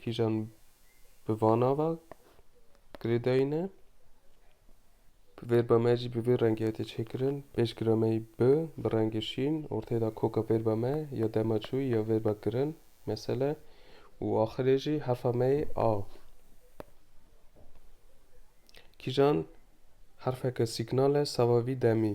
kîjan bi van nava girêdayîne. Verba me jî bi vê rengê tê çêkirin. Pêşgira me yî bi bi rengê şîn orteyê de koka verba me ya dema çûyî ya verba girin mesele û axirê jî hefa me yê a. Kîjan herfeke sîgnal e sava vî demî.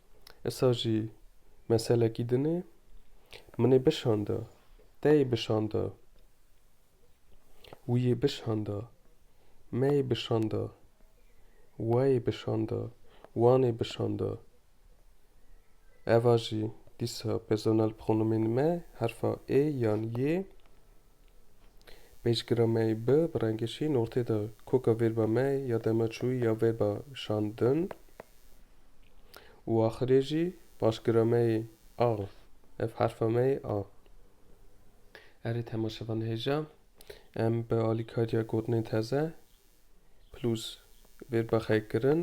Issa jî meselekî din e. Min ê bişanda. Te yê bişanda. Wî yê bişanda. Me yê bişanda. We yê bişanda. Wan ê bişanda. Eva jî dîsa personel pronomên me herfa ê yan yê Pêşgira me yê bi bi rengê şîn ortê de koka vêrba me ya dema çûyî ya vêrba şandin û axirê jî paşgira me yê a. Ev herfa me yê a. Erê temaşevan hêja em bi alîkariya gotinên teze plus vêrba xeykkirin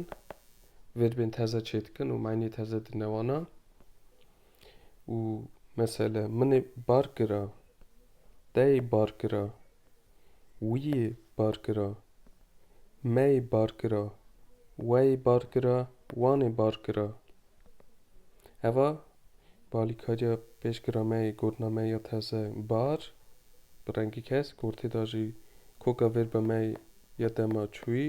vêrbên teze çêdikin û manîyê teze dine wana. û mesele min ê bar kira, te yê bar kira, wî yê bar kira, me yê bar kira, we yê bar kira, wan ê bar kira. Heva bi alîkariya pêşkira me yê gotina me ya teze bar, bi rengî kesk, ortê de jî koka vêrba me ya dema çûyî.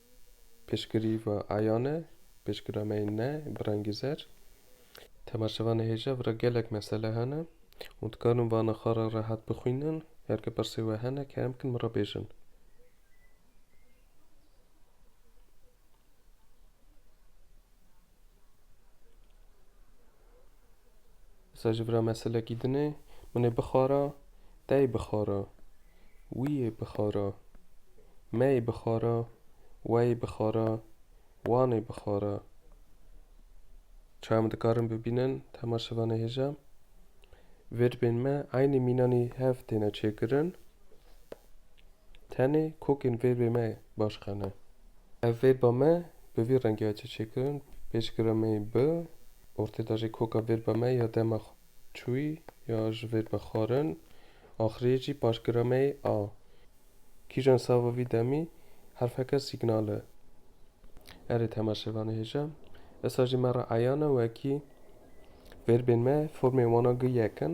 Piştgirî va Ayane, piştgira me yên ne bi rengî zer. Temaşeva nehêja vira gelek mesele hene û dikarin vana xwe re rehet bixwînin. Her ke pirsê we hene kerem bikin min re bêjin. Disa ji vira me silekî dine, min ê bixwara, te yê bixwara, wî yê bixwara, me yê bixwara, we yê bixwara, wan ê bixwara. Çawa em dikarin bibînin tema şivan ê hêja? Vêrbên me eynî mînanî hev têne çêkirin. Tenê kokên vê bê me baş qene. Ev vê ba me bi vî rengê ya çêçêkirin, pêşgiremeyî bi, ortê de jî koka vê ba me ya dema çûyî ya ji vê be xwarin, axiriyê jî paşgiremeyî a. Kîjan sava vî demî herfeke sîgnal e. Erê temaşevanê hêja, esa jî me re eyan e wekî vê bên me formên wana gi yek in.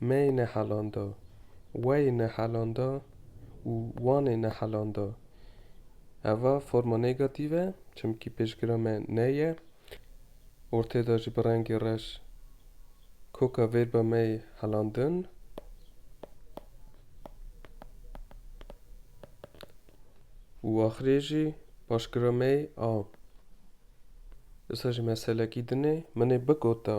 Mey nehelanda, wey nehelanda û wan ê nehelanda. Eva forma negatîv e çimkî pêşgira me ney ye. Ortê de jî bi rengê reş koka vêrba mey helandin. Û axirê jî paşgira mey a. Disa jî meselekî din ê. Min ê bigota.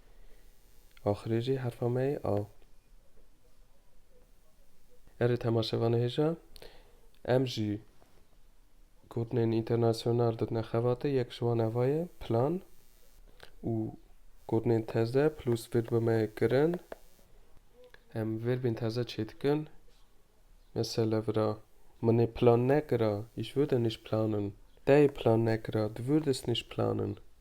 Axirê jî herfa me yê a. Erê temaşevan hêja, em jî gotinên înternasyonal didine xebatê, yek ji wan eva ye, plan û gotinên teze plus vêrbê me yê kirin. Em vêrbên teze çê dikin. Mesela vira, min ê plan nekira, ich würde nicht planen. Te yê plan nekira, du würdest nicht planen.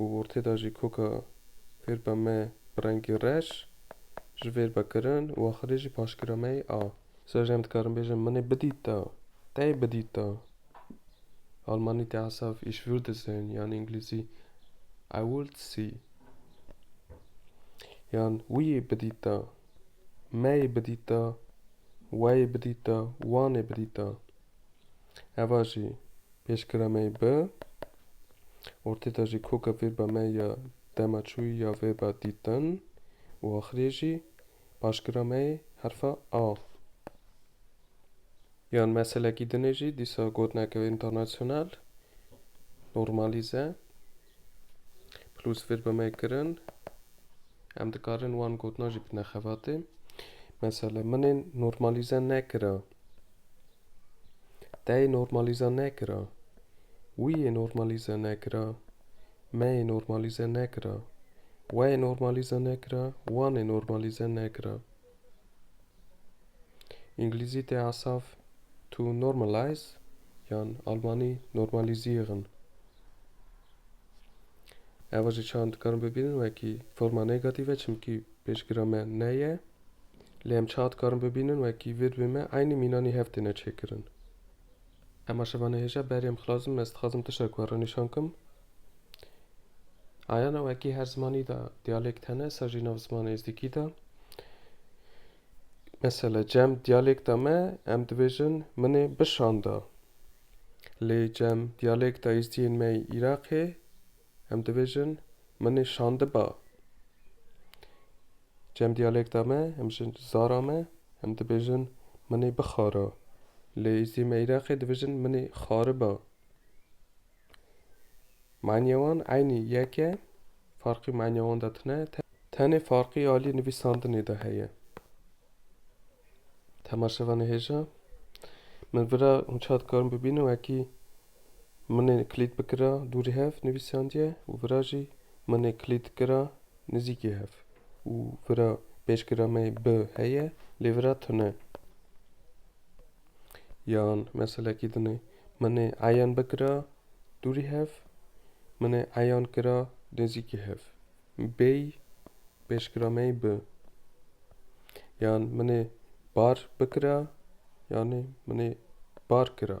û ortê de jî koka fêr be me bi rengê reş ji fêr be kirin û axirê jî paşgira me yê a. Ser jî em dikarin bêjin min ê bidîta, te yê bidîta. Almanî tê hesaf ich würde sehen yan înglîzî I would see. Yan wî yê bidîta, me yê bidîta, we yê bidîta, wan ê bidîta. Eva jî pêşgira me bi. Ortêta jî koka vêba me ya dema çûyî ya vêba dîtin û axirê jî paşgira me yê herfa A. Yan meselekî dinê jî dîsa gotinek ew înternasyonal normalîze plus vêba me kirin. Em dikarin wan gotinan jî bidne xebatê. Mesela minên normalîze nekira. Te yê normalîze nekira. Wî yê normalîze nekira. Me yê normalîze nekira. We yê normalîze nekira. Wan ê normalîze nekira. Îngilîzî tê asaf to normalize yan almanî normalisierung. Eva jî çaran dikarin bibînin wekî forma negative çimkî pêşgira me ne ye. Lê em çawa dikarin bibînin wekî vê di wê me eynî mînanî hev têne çêkirin. Ema şevane hêja berê em xilas bim ez dixwazim tiştek we re nîşan kim. Ayana wekî her zimanî de diyalêkt hene ser jî nav zimana êzdîkî de. Mesela cem diyalêkta me em dibêjin min ê bişanda. Lê cem diyalêkta êzdiyên me îraqê Em dibêjin min ê şandiba. Cem diyalekta me, em ji zara me, em dibêjin min ê bixara. Li Îzîme Îraqê dibêjin min ê xariba. Manîya wan eynî yek e, farqî manîya wan de tune, tenê farqî alî nivîsandinê de heye. Temaşevanê hêja min vira hûn çad dikarin bibînin wekî Minê kilîd bikira dûrî hev nivîsandiye û vira jî Minê kilîd kira nizîkî hev û vira pêşgira me bi heye lê vira tune yan meselekî dinê Minê eyan bikira dûrî hev Minê eyan kira nizîkî hev bêy pêşgira me bi yan Minê bar bikira yanê Minê bar kira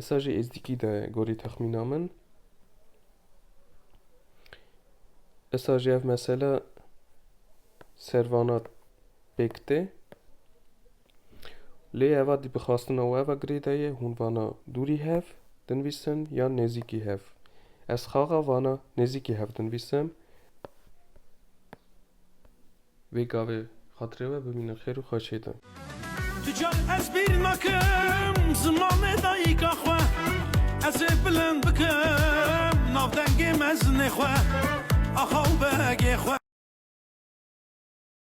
Esa jî êzdîkî de gorî texmîna min. Esa jî ev mesela servana pêk tê. Lê eva dî bixastina we ve girê de ye hûn vana dûrî hev dinvîsin yan nêzîkî hev. Ez xaxa vana nêzîkî hev dinvîsim. Vê gavê xatirê we bimîne xêr û xweşê de. Tu car ez bîr nakim zimanê dayîka xwe Ez ê bilind bikim navdengê mezinê xwe Axa û begê xwe.